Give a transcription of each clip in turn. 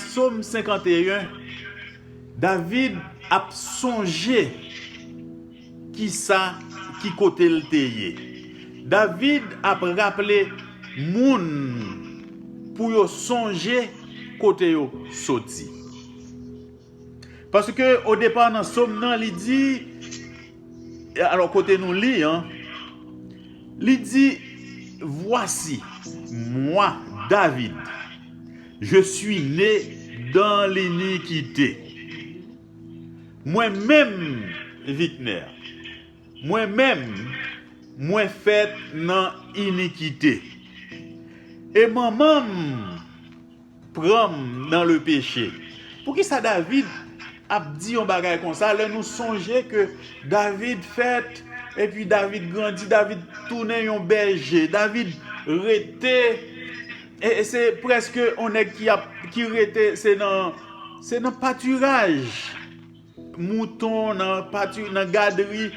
Som 51 David ap sonje kisa ki kote l te ye. David ap raple moun pou yo sonje kote yo soti. Paske o depa nan som nan li di, alò kote nou li an, li di, Vwasi, mwa, David, je sui ne dan linikite. Mwen menm, Vikner, mwen menm, mwen fèt nan inikite. E manman m. Pran m nan le peche. Poukisa David ap di yon bagay konsa lè nou sonje ke David fèt epi David grandi, David tounen yon bèje, David rete se prèske yon nèg ki rete se nan patiraj. mouton nan pati nan gadri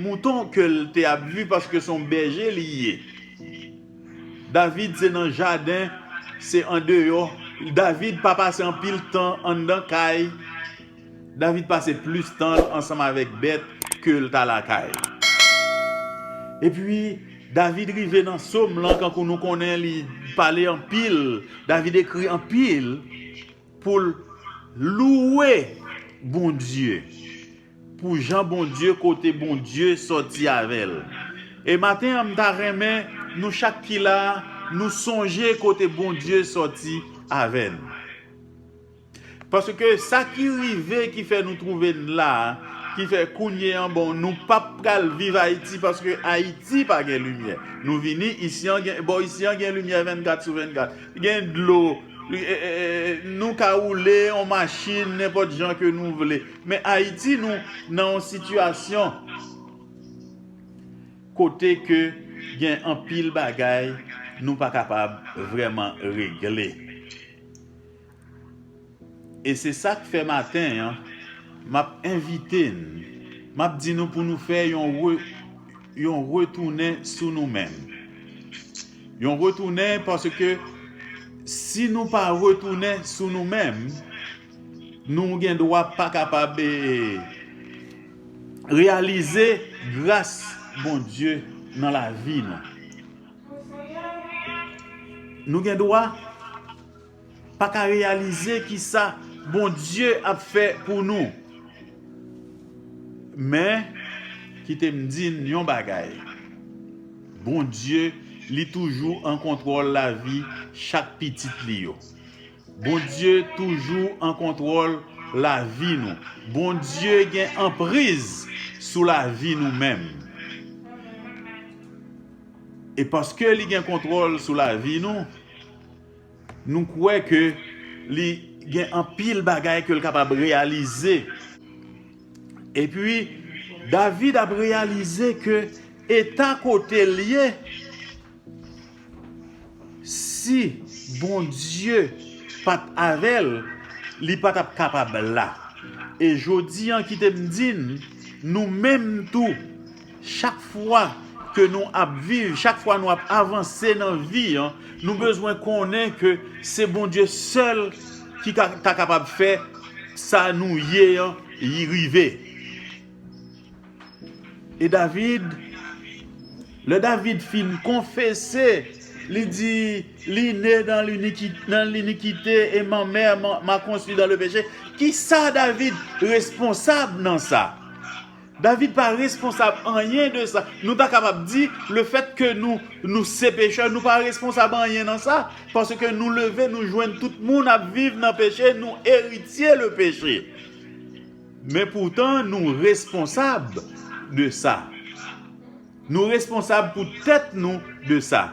mouton ke l te ap viv paske se yon bèje li ye David se nan jaden se andeyò David pa pase anpil tan anndan kay David pase plis tan l ansanm avèk bèt ke l ta lakay epi David rive nan som lan kankou nou konnen li pale anpil David ekri anpil Pou l louwe Bondye. Pou jan Bondye kote Bondye sòti avè l. E maten an m ta renmen nou chak ki la nou sonje kote Bondye sòti avè n. Paske sa ki rive ki fè nou twouve n la ki fè kounye an bon nou pa pral viv Ayiti paske Ayiti pa gen limyè. Nou vini isi an gen bò isi an gen limyè 24 sou 24. Gen dlo. Nou ka woule yon machin nenpòt jan ke nou vle. Men Ayiti nou nan yon sitiyasyon kote ke gen anpil bagay nou pa kapab vrèman regle. E se sa k fè maten an m ap envite n, m ap di nou pou nou fè yon retounen sou nou menm. Yon retounen paske si nou pa retounen sou nou menm, nou gen dwa pa kapab reyalize gras Bondye nan lavi nou. Nou gen dwa. Paka reyalize kisa Bondye ap fè pou nou. Men, kite m di n yon bagay, Bondye li toujou an kontwòl lavi chak pitit li yo. Bondye toujou an kontwòl lavi nou. Bondye gen anpriz sou lavi nou menm. E paske li gen kontwòl sou lavi nou, Nou kwè ke li gen anpil bagay ke l kapab reyalize. Epi, David ap reyalize ke eta kote l ye, si Bondye pa t avè l, li pa t ap kapab la. E jodi an, kite m di n, nou menm tou, Chak fwa ke nou ap viv, chak fwa nou ap avanse nan vi an, nou bezwen konnen ke se Bondye sèl ki ka ta kapab fè sa nou ye an rive. E David, lè David fin konfese, li di, li ne nan linikite e manmè ma konstwi dan le peche, kisa David responsab nan sa? David pa responsab anyen de sa. Nou ta kapab di, le fèt ke nou, nou se pechè, nou pa responsab anyen nan sa, paske nou leve, nou jwenn tout moun ap viv nan peche, nou eritye le peche. Men poutan nou responsab de sa. Nou responsab pou tèt nou de sa.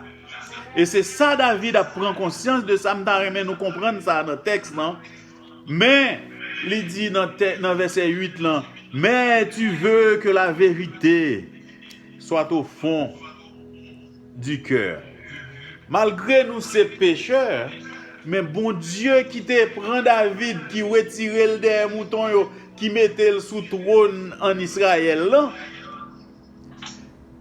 E se sa David ap pran konsyans de sa, m ta renmen nou konprann sa nan tèks lan, Men, li di nan vèsè 8 lan, Men tu ve ke la verite swat o fon di kè. Malgre nou se pechè, men Bondye ki te pran David, ki wetire l dèyè mouton yo, ki mete l sou twòn ann Israël lan,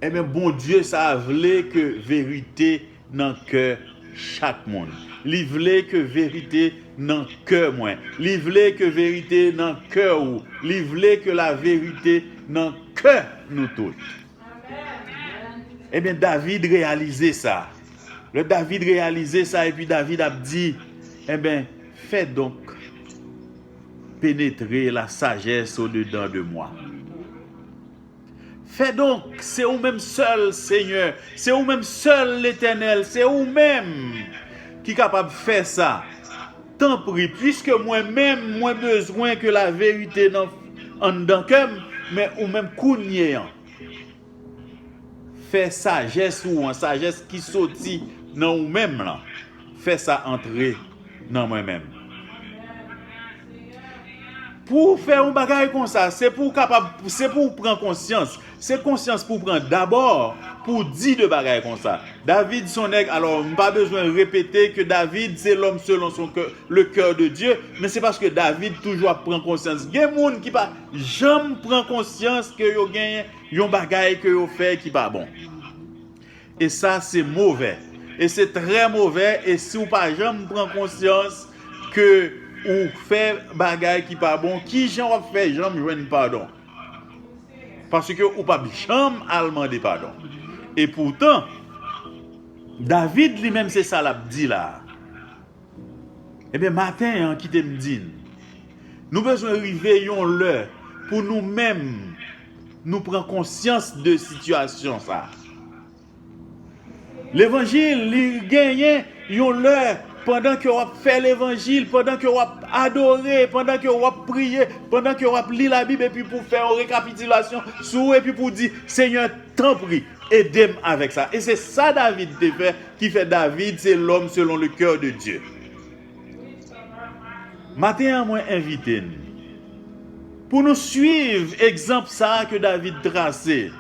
enben Bondye sa a vle ke verite. nan kè chak moun. Li vle ke verite nan kè mwen. Li vle ke verite nan kè ou. Li vle ke la verite nan kè nou tout. Ebyen David reyalize sa. Le David reyalize sa epi David ap di, Ebyen, fè donk penetre la sajès o dedan de mwa. Fè donk, se ou menm sèl, Senyè, se ou menm sèl, Letènèl, se ou menm ki kapab fè sa. Tanpri, piske mwen menm, mwen bezwen ke laverite nan anndan kè m, men ou menm kounye an, fè sajès ou an, sajès ki soti nan ou menm lan. fè sa antre nan mwen menm. Pou ou fè yon bagay kon sa, se pou ou kapab, se pou ou pran konsyans, se konsyans pou ou pran dabò, pou ou di de bagay kon sa. David son nèg, alò m pa bezwen repete ke David se lòm selon son kè, le kè de Dye, men se paske David toujou ap pran konsyans. Gen moun ki pa janm pran konsyans ke yo gen yon bagay ke yo fè ki pa bon. E sa se movè. E se trè movè e si w pa janm pran konsyans ke ou fè bagay ki pa bon, ki jan w ap fè janm jwenn padon? Paske ou pap janm al mande padon. E poutan, David li menm se sa l ap di la a. Ebyen maten an kite m di n, nou bezwen rive yon lè pou nou menm nou pran konsyans de sitiyasyon sa. Levanjil li genyen yon lè pandan ke w ap fè levanjil, pandan ke w ap adore, pandan ke w ap priye, pandan ke w ap li labib epi pou fè yon rekapitilasyon sou epi pou di senyè tanpri ede m avèk sa. E se sa David te fè Ki fè David se lòm selon le kè de Dye. Maten an mwen envite n. Pou nou swiv egzanp sa a ke David trase.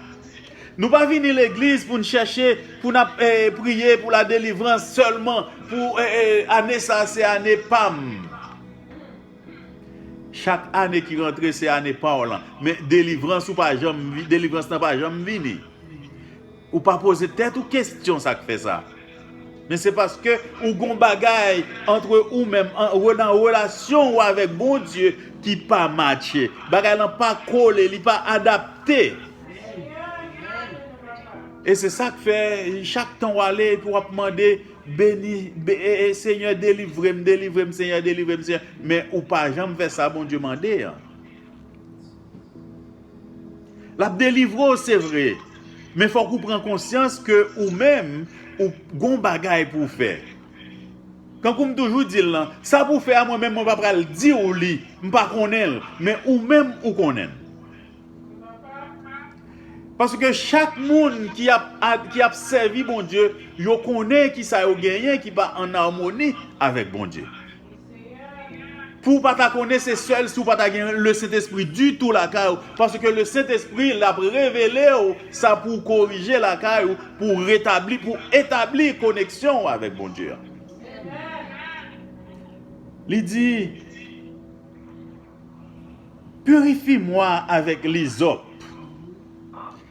Nou pa vini legliz pou n chèche pou n ap priye pou la delivrans sèlman pou ane sa se ane pa m. Chak ane ki rantre se ane pa w lan. Men delivrans ou pa janm delivrans lan pa janm vini. Ou pa poze tèt ou kestyon sak fè sa? Men se paske ou gon bagay antre ou menm nan relasyon ou avèk Bondye ki pa matche. Bagay lan pa kole, li pa adapte. E se sak fè chak tan ou ale epi wap mande beni Senyè delivrem, delivrem Senyè, delivrem Senyè men ou pa janm fè sa Bondye mande an. L ap delivre w se vre, men fòk ou pran konsyans ke ou menm ou gon bagay pou w fè. Tankou m toujou di l lan, sa pou w fè a mwen menm mwen pa pral di w li, m pa konnen l, men ou menm ou konnen l. Paske chak moun ki ap sèvi Bondye, yo konnen kisa yo genyen ki pa an amoni avèk Bondye. Pou ou pa ta konnen se sèl si ou pa ta gen le sentespri ditou lakay ou, paske le sentespri l ap revele ou sa pou ou korije lakay ou pou ou retabli, pou ou etabli koneksyon ou avèk Bondye a. Li di, Purifi mwa avèk lizòp.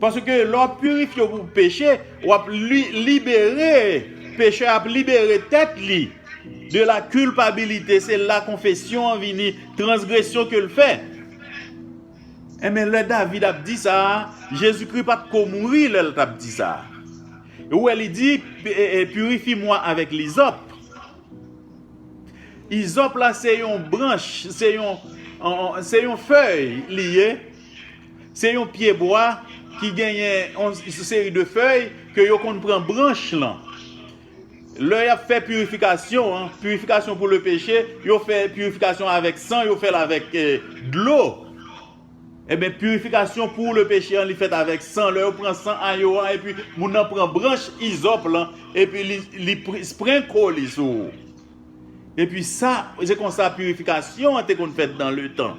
Paske lè w ap pirifye w pou peche, w ap libere, pechè a ap libere tèt li de la kilpabilite, se la konfesyon an vini, transgresyon ke l fè. Enben lè David ap di sa, Jezikri pa t ko mouri lè l t ap di sa. Ou wè li di, pirifi mwa avèk lizòp. Izòp la se yon branch, se yon fèy li ye, Se yon pye bwa ki genyen yon seri de fèy ke yo konn pran branch lan. Lè y ap fè pirifikasyon an, pirifikasyon pou lepeche, yo fè pirifikasyon avèk san, yo fè l avèk dlo. Enben, pirifikasyon pou lepeche an li fèt avèk san. Lè yo pran san ayo an epi moun nan pran branch izòp lan epi li sprenko li sou. Epi sa, se konsa pirifikasyon an te konn fèt dan letan.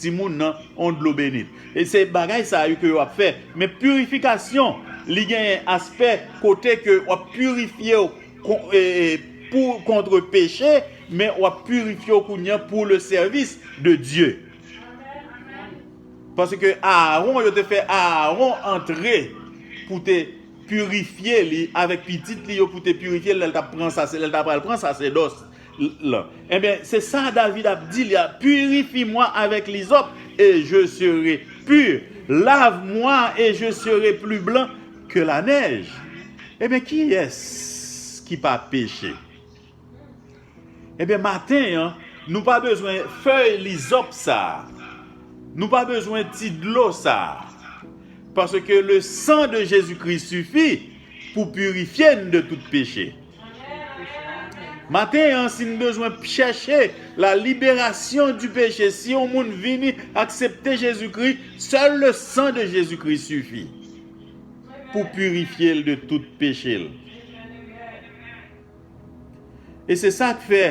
timoun nan on dlo benit e se bagay sa yo ke yo ap fè men purifikasyon li genyen aspè kote ke wap purifyew pou kontre peche men wap purifyew kounya pou le sèvis de Dye paske Aaron yo te fè Aaron antre pou te purifye li avèk pitit li yo pou te purifye lèl tap pran lèl ta pral pran sasèdòs L. Enben, se sa David ap di li a, Purifie moi avec l'hysope, et je serai pur, lave moi et je serai plus blanc que la neige. Enben, kiyès ki pa peche? Enben, maten an, nou pa bezwen fèy lizòp sa a, nou pa bezwen ti dlo sa a, paske le san de Jezi Kris sifi pou purifye n de tout peche. Maten an si n bezwen chèche la liberasyon di peche si yon moun vini aksepte Jezi Kri sèl le san de Jezi Kri sifi pou pirifye l de tout peche l e se sa k fè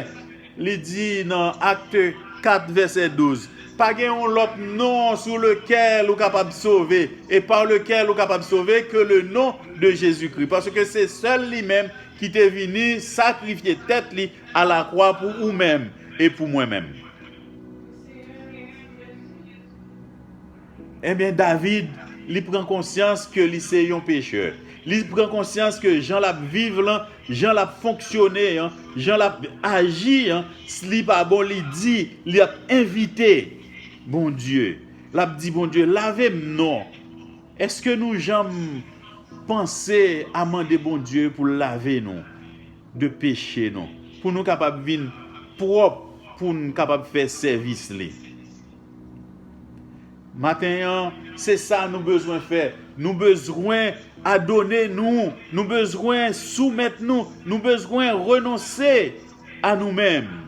Li di nan Acte 4 vèsè 12, Pa gen yon lòt non sou lekèl ou kapab sove, e pa lekèl ou kapab sove, ke le non de Jezikri. Paske se sèl li menm ki te vini sakrifye tèt li a la kwa pou ou menm e pou mwen menm. Enben David, li pran konsyans ke li se yon pechè. Li pran konsyans ke jan l ap viv lan, jan l ap fonksyone an, jan l ap aji an, li pa bon, li di, li ap envite Bondye. L ap di Bondye, lave m non. Eske nou janm panse a mande Bondye pou l lave nou de peche nou, pou nou kapab vin pwòp, pou n kapab fè sèvis li? Maten an, se sa nou bezwen fè. Nou bezwen adone nou. Nou bezwen soumèt nou. Nou bezwen renonse a nou menm.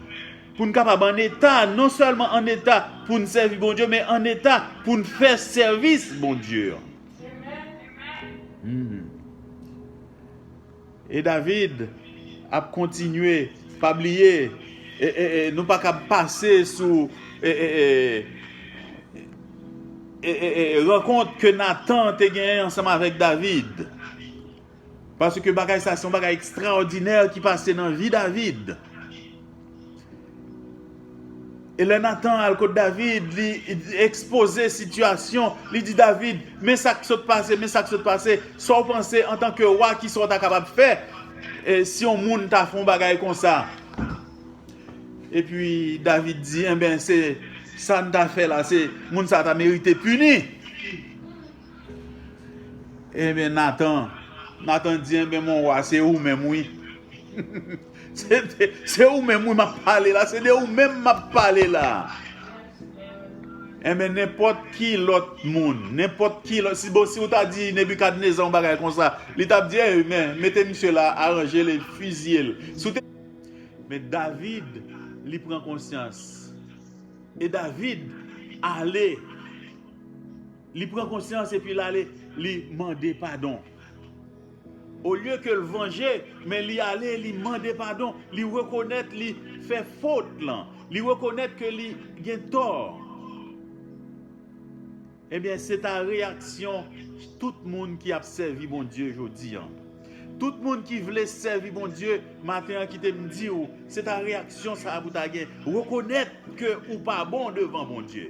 Pou n kapab an eta, non sèlman an eta pou n sèvi Bondye, men an eta pou n fè sèvis Bondye an. E David ap kontinye pa bliye nou pa kab pase sou rankont ke Nathan te genyen ansanm avèk David paske bagay sa se yon bagay ekstraòdinè ki pase nan vi David. E lè Natan al kot David, li ekspoze sitiyasyon, li di David, Men sa k sot pase, men sa k sot pase, sa w panse antanke wa, ki sa w ta kapab fè si yon moun ta fè yon bagay konsa? Epi David di, Enben, se sa n ta fè la, se moun sa a ta merite pini. Enben Nathan Nathan di enben mon roi se ou menm wi Se ou menm wi map pale la se de ou menm map pale la Enben nenpòt ki lòt moun nenpòt ki lòt si bon si ou ta di Nebikadneza yon bagay konsa li tap di enben mete misye la aranje l e fiziye l si w te Men David li pran konsyans e David ale Li pran konsyans epi l ale li mande padon. Olye ke l vanje, men li ale li mande padon, li rekonèt li fè fot lan, li rekonèt ke li gen tò. Ebyen, se ta reyaksyon tout moun ki ap sèvi Bondye jodi an. Tout moun ki vle sèvi Bondye, maten an kite m di ou, se ta reyaksyon sa a pou ta gen, rekonèt ke ou pa bon devan Bondye.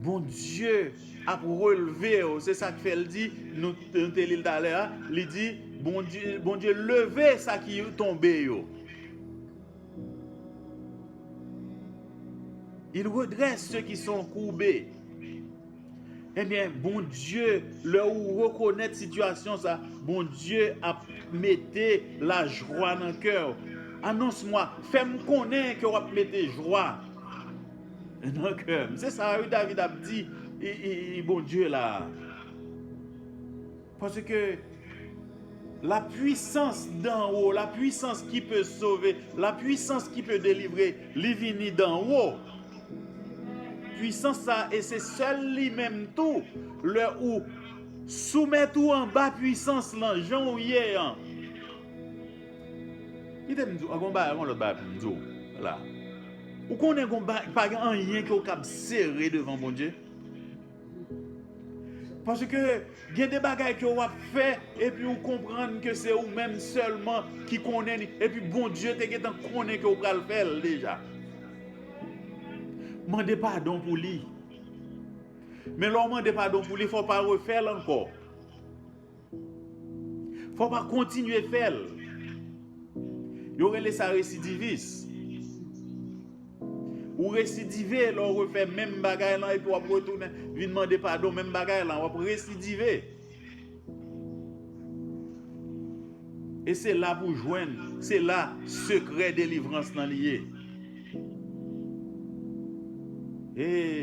Bondye ap relve w. Se sa k fè l di, nou te li l talè a, li di, Bondye leve sa ki tonbe yo. Il redresse ceux qui sont courbés. Ebyen, eh Bondye, lè ou rekonèt sitiyasyon sa, Bondye ap mete la jwa nan kè ou. Annonce-moi, fè m konnen ke w ap mete jwa. Nan kèm. Se sa wi David ap di Bondye la. Paske la pwisans dan wo, la pwisans ki pe sove, la pwisans ki pe delivre, li vini dan wo. Pwisans sa e se sèl li menm tou lè ou soumèt ou anba pwisans lan jan ou ye an. Kite m di w, gon bagay, gon lòt bagay pou m di w la. Ou konnen gon bagay, pa gen anyen ke w kab sere devan Bondye. Paske gen de bagay ke w ap fè, epi ou konprann ke se ou menm sèlman ki konnen li, epi Bondye te gentan konnen ke w pral fè l deja. Mande padon pou li. Men lè w mande padon pou li, fò w pa refè l ankò. Fò pa kontinye fè l. Yo rele sa residivis. Ou residive lè w refè menm bagay lan epi w ap retounen vin mande padon menm bagay lan. W ap residive. E se la pou jwenn, se la sekrè delivrans lan li ye. Ee.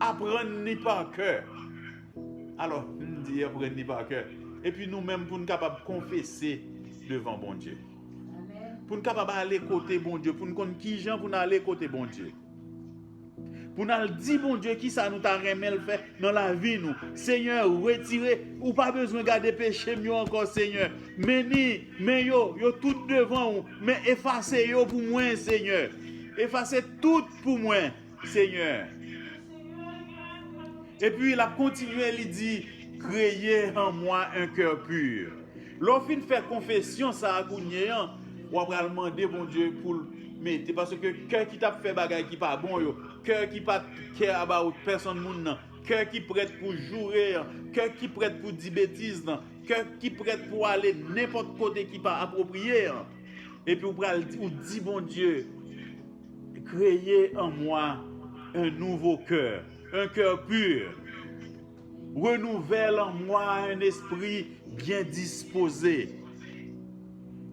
Aprann li pa kè. Alò, m di aprann li pa kè. Epi nou menm pou n kapab konfese devan Bondye. Pou n kapab ale kote Bondye, pou n konn ki jan pou n ale kote Bondye. Pou n al di Bondye ki sa nou ta renmen l fè nan lavi nou. Senyè, retire, ou pa bezwen gade peche m yo ankò, Senyè. Men ni, men yo, yo tout devan ou, men efase yo pou mwen, Senyè. Efase tout pou mwen. Senyè. Epi l ap kontinye li di, Kreye an mwa un kè pur. Lè w fin fè konfesyon sa a kounye a, w apral mande Bondye pou l mete, paske kè ki t ap fè bagay ki pa bon yo, kè ki pa t care about pèsonn moun nan, kè ki prèt pou joure an, kè ki prèt pou di betiz nan, kè ki prèt pou ale nenpòt kote ki pa apwopriye an. Epi ou pral di Bondye. Kreye an mwa un nouveau cœur, un cœur pur, renouvèle an mwa un esprit bien disposé.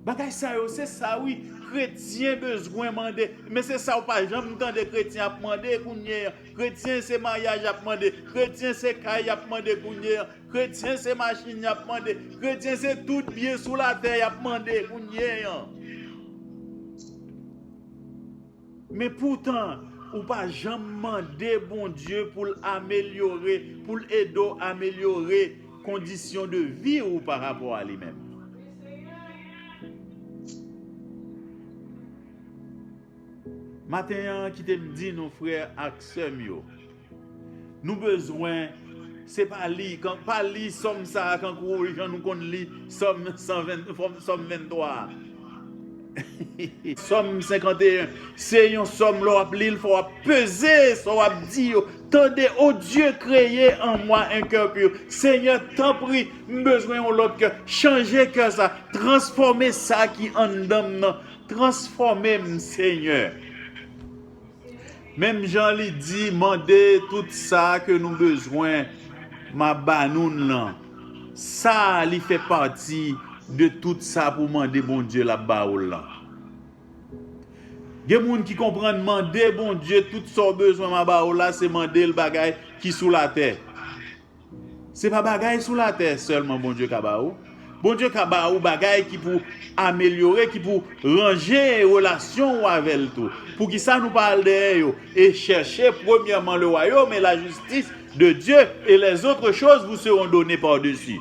Bagay sa yo se sa wi kretyen bezwen mande men se sa ou pa janm tande kretyen ap mande kounye an kretyen se maryaj yap mande kretyen se kay yap mande kounye an kretyen se machin yap mande kretyen se tout byen sou latè yap mande kounye an. Men poutan, ou pa janm mande Bondye pou l amelyore, pou l ede w amelyore kondisyon de vi ou pa rapò a li menm. Maten an, kite m di nou frè ak sè m yo, Nou bezwen se pa li kan pa li sòm sa a kankou jan nou konn li sòm 120 sòm 23 a sòm 51 se yon sòm lè w ap li l fò w ap peze sa w ap di yo tande o Dye kreye an mwa un cœur pur senyè tanpri m bezwen yon lòt kè chanje kè sa transfòme sa ki anndan m nan transfòme m senyè. Menm jan li di, Mande tout sa ke nou bezwen, m'a ba noun lan. Sa a li fè pati de tout sa pou mande Bondye l'a ba ou lan. Gen moun ki konprann mande Bondye tout sa ou bezwen m'a ba ou la se mande'l bagay ki sou latè. Se pa bagay sou latè sèlman Bondye ka ba ou, Bondye ka ba ou bagay ki pou amelyore, ki pou ranje relasyon ou avè l tou. Poukisa nou pa al dèyè yo e chèche premyèman le wayom e la jistis de Dye e lèzotre choz vou seron done padesi?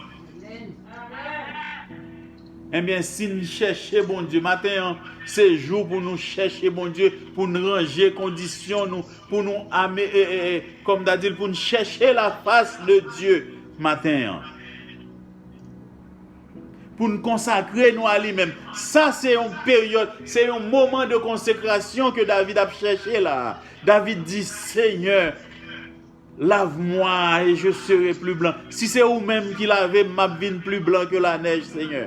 Enben, si n chèche Bondye, maten an se jou pou nou chèche Bondye, pou n ranje kondisyon nou, Pou nou ame, kòm ta di l, pou n chèche lafas de Dye maten an. Pou n konsakre nou a li menm. Sa se yon peryòd, se yon moman de konsekrasyon ke David ap chèche la a. David di, Senyè, lave mwa e je sere pli blan. Si se ou menm ki lave m, m ap vin pli blan ke lanèj, Senyè.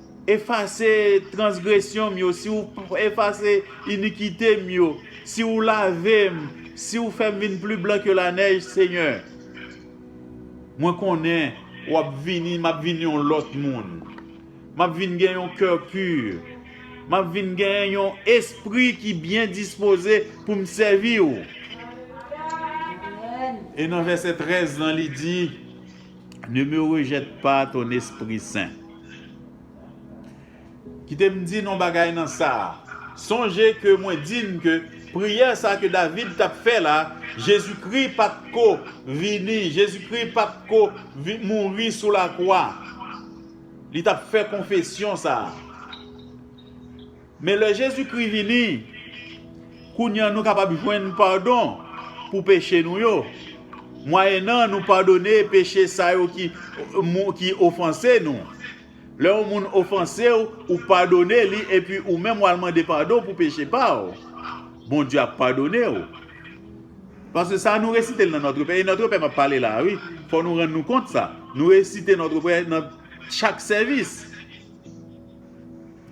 Efase transgresyon m yo, si w efase inikite m yo, si w lave m, si w fè m vin pli blan ke lanèj, Senyè. Mwen konnen w ap vini, m ap vin yon lòt moun. M ap vin gen yon kè pu. M ap vin gen yon espri ki byen dispoze pou m sèvi w. E nan vèsè 13 lan li di. Ne me rejette pas ton esprit saint. Kite m di n yon bagay nan sa. Sonje ke mwen di n ke priyè sa ke David t ap fè la, Jezikri pa t ko vini, Jezikri pa t ko mouri sou lakwa. Li t ap fè konfesyon sa. Men lè Jezikri vini, kounye an nou kapab jwenn padon pou peche nou yo, mwayennan nou padone peche sa yo ki ofanse nou. Lè yon moun ofanse w, ou padone li epi ou menm w al mande padon pou peche pa w, Bondye ap padone w. Paske sa nou resite l nan Notre Père, e Notre Père m ap pale la a wi, fò nou rann nou kont sa, nou resite Notre Père nan chak sèvis.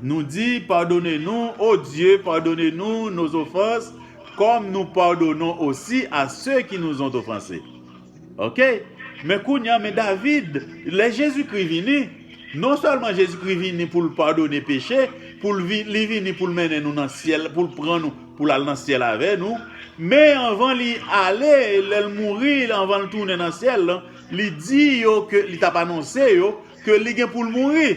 Nou di, Padone nou, O Dye, padone nou nos ofans, kòm nou padonon osi a se ki nou zont ofanse. Ok. Men kounye an, men David, lè Jezikri vini, non sèlman Jezikri vini pou l padone peche, pou l vin, li vini pou l mennen nou nan syèl, pou l pran nou, pou l al nan syèl avè nou, men anvan li ale, lè l mouri, anvan l tounen nan syèl lan, li di yo ke, li t ap anonse yo, Ke li gen poul mouri.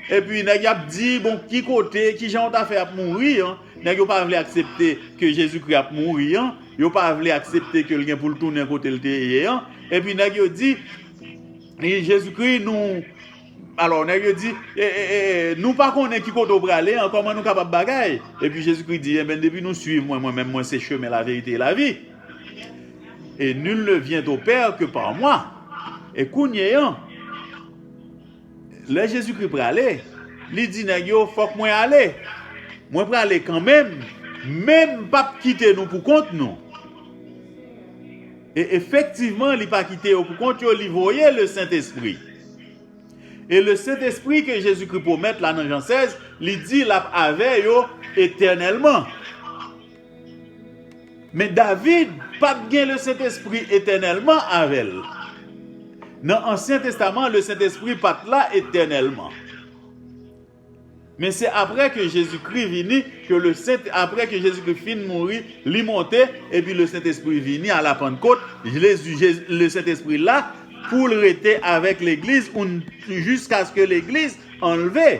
Epi nèg yo ap di bon ki kote, ki jan yo ta fè ap mouri an. Nèg yo pa vle aksepte ke Jezikri ap mouri an. Yo pa vle aksepte ke l gen pou l tounen kote l te ye an. Epi nèg yo di, Jezikri nou, alò nèg yo di, e, e, e, nou pa konnen ki kote w prale an, kòman nou kapab bagay? Epi Jezikri di, enben depi nou swiv mwen, mwen menm mwen se chemen, laverite e lavi. Et nul ne vient au Père que par moi. E kounye an, lè Jezikri prale, li di nèg yo, fòk mwen ale. Mwen prale kanmenm, men m p ap kite nou poukont nou. E efektivman, li pa kite yo poukont yo, li voye Lesentespri. E Lesentespri ke Jezikri pwomèt la nan Jan 16, li di l ap avè yo etènèlman. Men David pa t gen Lesentespri etènèlman avè l. Nan Ansyen Testaman, Lesentespri pa t la etènèlman. Men se apre ke Jezikri vini, apre ke Jezikri fin mouri, Li monte, epi Lesentespri vini a la Pannkot, Lesentespri la pou l rete avèk Legliz jiskaske Legliz anlve.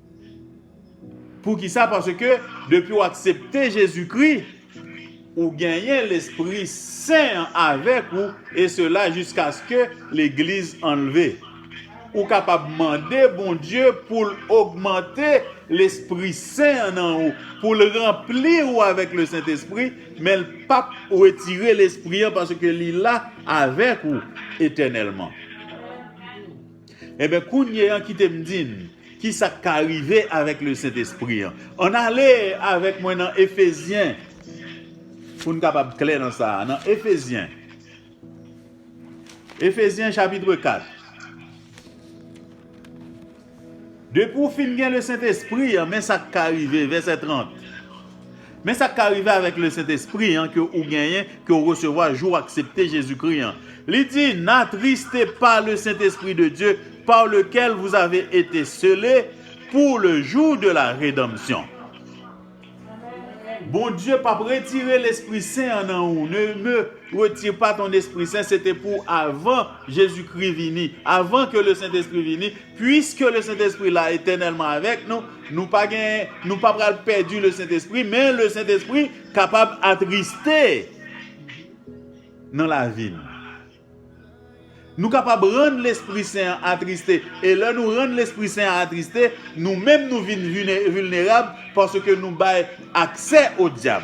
Poukisa? Paske depi w aksepte Jezikri, ou genyen Lespri Sen an avèk ou, e sela jiskaske Legliz an leve. Ou kapab mande Bondye pou l ogmante Lespri Sen an nan ou, pou l ranpli ou avèk Lesentespri, men l p ap retire Lespri an paske li la avèk ou etènèlman. Enben, kounye a, kite m di n ki sa k ka rive avèk Lesentespri a. Ann ale avèk mwen nan Efezyen pou n kapab klè nan sa a. Nan Efezyen, Efezyen chapitre 4. Depi w fin gen Lesentespri a, men sa k ka rive, vèsè 30. Men sa k ka rive avèk Lesentespri an ke ou genyen, ke ou resevwa jou ou aksepte Jezikri an. Li di, N'atriste pa Lesentespri de Dye, par lekel vous ave ete sele pou le jou de la redanmsyon. Bondye p'ap retire Lespri Sen an nan ou. Ne me retire pas ton Esprit Saint, se te pou avan Jezikri vini, avan ke Lesentespri vini, Puiske le Sentespri la etènèlman avèk nou, nou pa gen, nou pa pral pèdi le Sentespri, men le Sentespri kapab atriste nan lavi nou. Nou kapab rann Lespri Sen an atriste, e lè nou rann Lespri Sen an atriste, nou menm nou vin vilnerab paske nou bay aksè o dyab.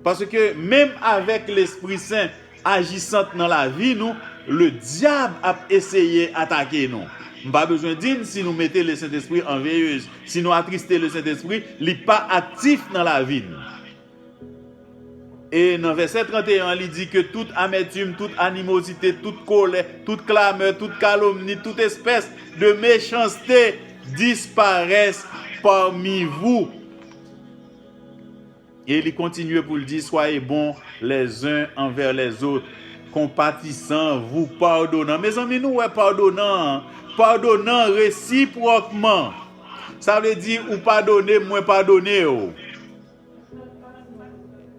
Paske menm avèk Lespri Sen ajisant nan lavi nou, le dyab ap eseye atake nou. M pa bezwen di n si nou mete le Sentespri an veyez, si nou atriste le Sentespri, li pa aktif nan lavi n. E nan vèsè 31 an li di ke tout amètim, tout animozite, tout kolè, tout klamè, tout kalomni, tout espès de mechanste disparès pami vou. E li kontinye pou l di, Swaye bon lèzen anvè lèzot, konpatisan, vou padonan. Mezanmi, nou wè padonan an? Padonan resipwòkman. Sa vle di, ou padone m, mwen padone w.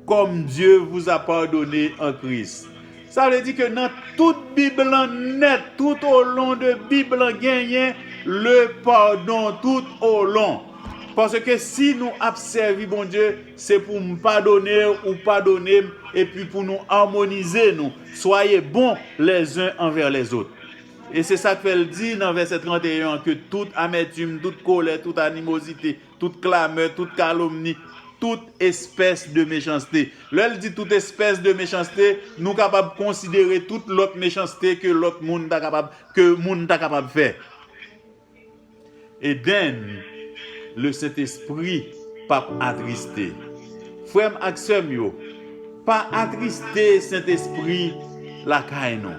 Kòm Dye vou a padone an Kris. Sa vle di ke nan tout bib lan nèt tout o lon de bib lan genyen le padon tout o lon. Paske si nou ap sèvi Bondye se pou m padone ou padone m epi pou nou amonize nou swaye bon lè zen anvè lè zot. E se sak fè l di nan vèsè 31 an ke tout amètim, tout kolè, tout animozite, Tout klamè, tout kalomni, tout espès de mechanste. Lè l di tout espès de mechanste, nou kapab konsidere tout lòt mechanste ke lòt moun ta kapab, ke moun ta kapab fè. Eden, Le Sentespri p ap atriste. Frè m ak sè m yo, pa atriste Sentespri lakay nou.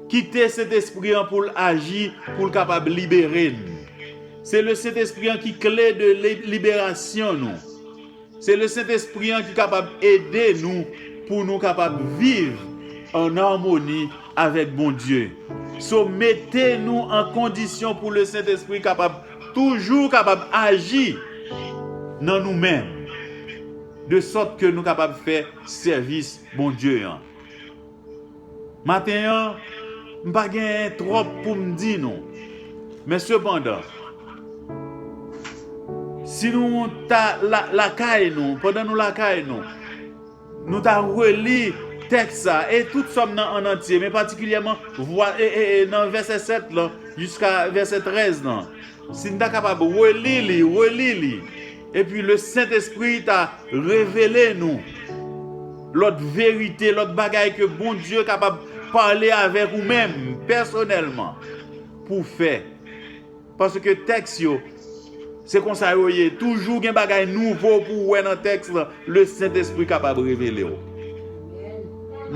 Kite Sentespri an poul aji poul kapab libere n. Se le Sentespri an ki kle de liberasyon nou. Se le Sentespri an ki kapab ede nou pou nou kapab viv an armoni avèk Bondye. So mete nou an kondisyon pou le Sentespri kapab toujou kapab aji nan nou menm. De sòt ke nou kapab fè sèvis Bondye an. Maten an, m pa genyen twòp pou m di nou, men sepandan, si nou ta lakay nou, pandan nou lakay nou, nou ta reli tèks sa a, e tout Sòm nan annantye, men patikilyèman nan vèsè 7 lan jiska vèsè 13 lan. Si n ta kapab reli li, reli li, epi le Sentespri ta revele nou lòt verite, lòt bagay ke Bondye kapab pale avèk ou menm pèsonèlman pou w fè. Paske tèks yo, se konsa yo ye, toujou gen bagay nouvo pou w wè nan tèks lan, le Sentespri kapab revele w.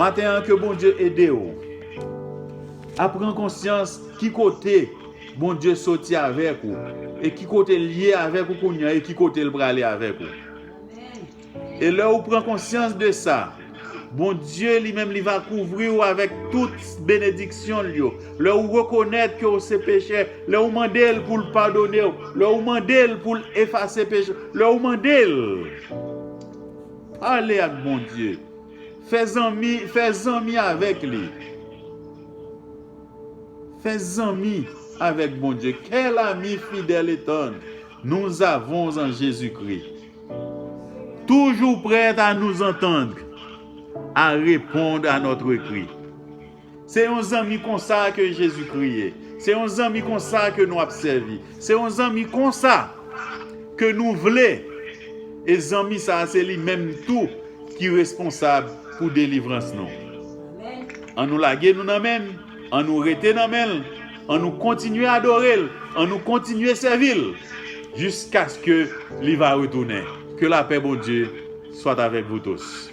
Maten an ke Bondye ede w a pran konsyans ki kote. Bondye soti avèk ou e ki kote l ye avèk ou kounye an e ki kote l prale avèk ou. E lè ou pran konsyans de sa, Bondye li menm li va kouvri ou avèk tout benediksyon l yo. Lè ou rekonèt ke ou se pechè, lè ou mande l pou l padone ou, lè ou mande l pou l efase peche ou, lè ou mande l, pale ak Bondye, fè zanmi, fè zanmi avèk li. Fè zanmi avèk Bondye. Quel ami fidèle est-on? Nous avons en Jésus-Christ. Toujours prêt à nous entendre, à répondre à notre cri. Se yon zanmi konsa ke Jezikri ye. Se yon zanmi konsa ke nou ap sèvi. Se yon zanmi konsa ke nou vle. E zanmi sa a se li menm tou ki responsab pou delivrans nou. An nou lage nou nan men n, an nou rete nan men l, an nou kontinye adore l, an nou kontinye sèvi l, jiskaske li va retounen. Ke lapè Bondye soit avec vous tous.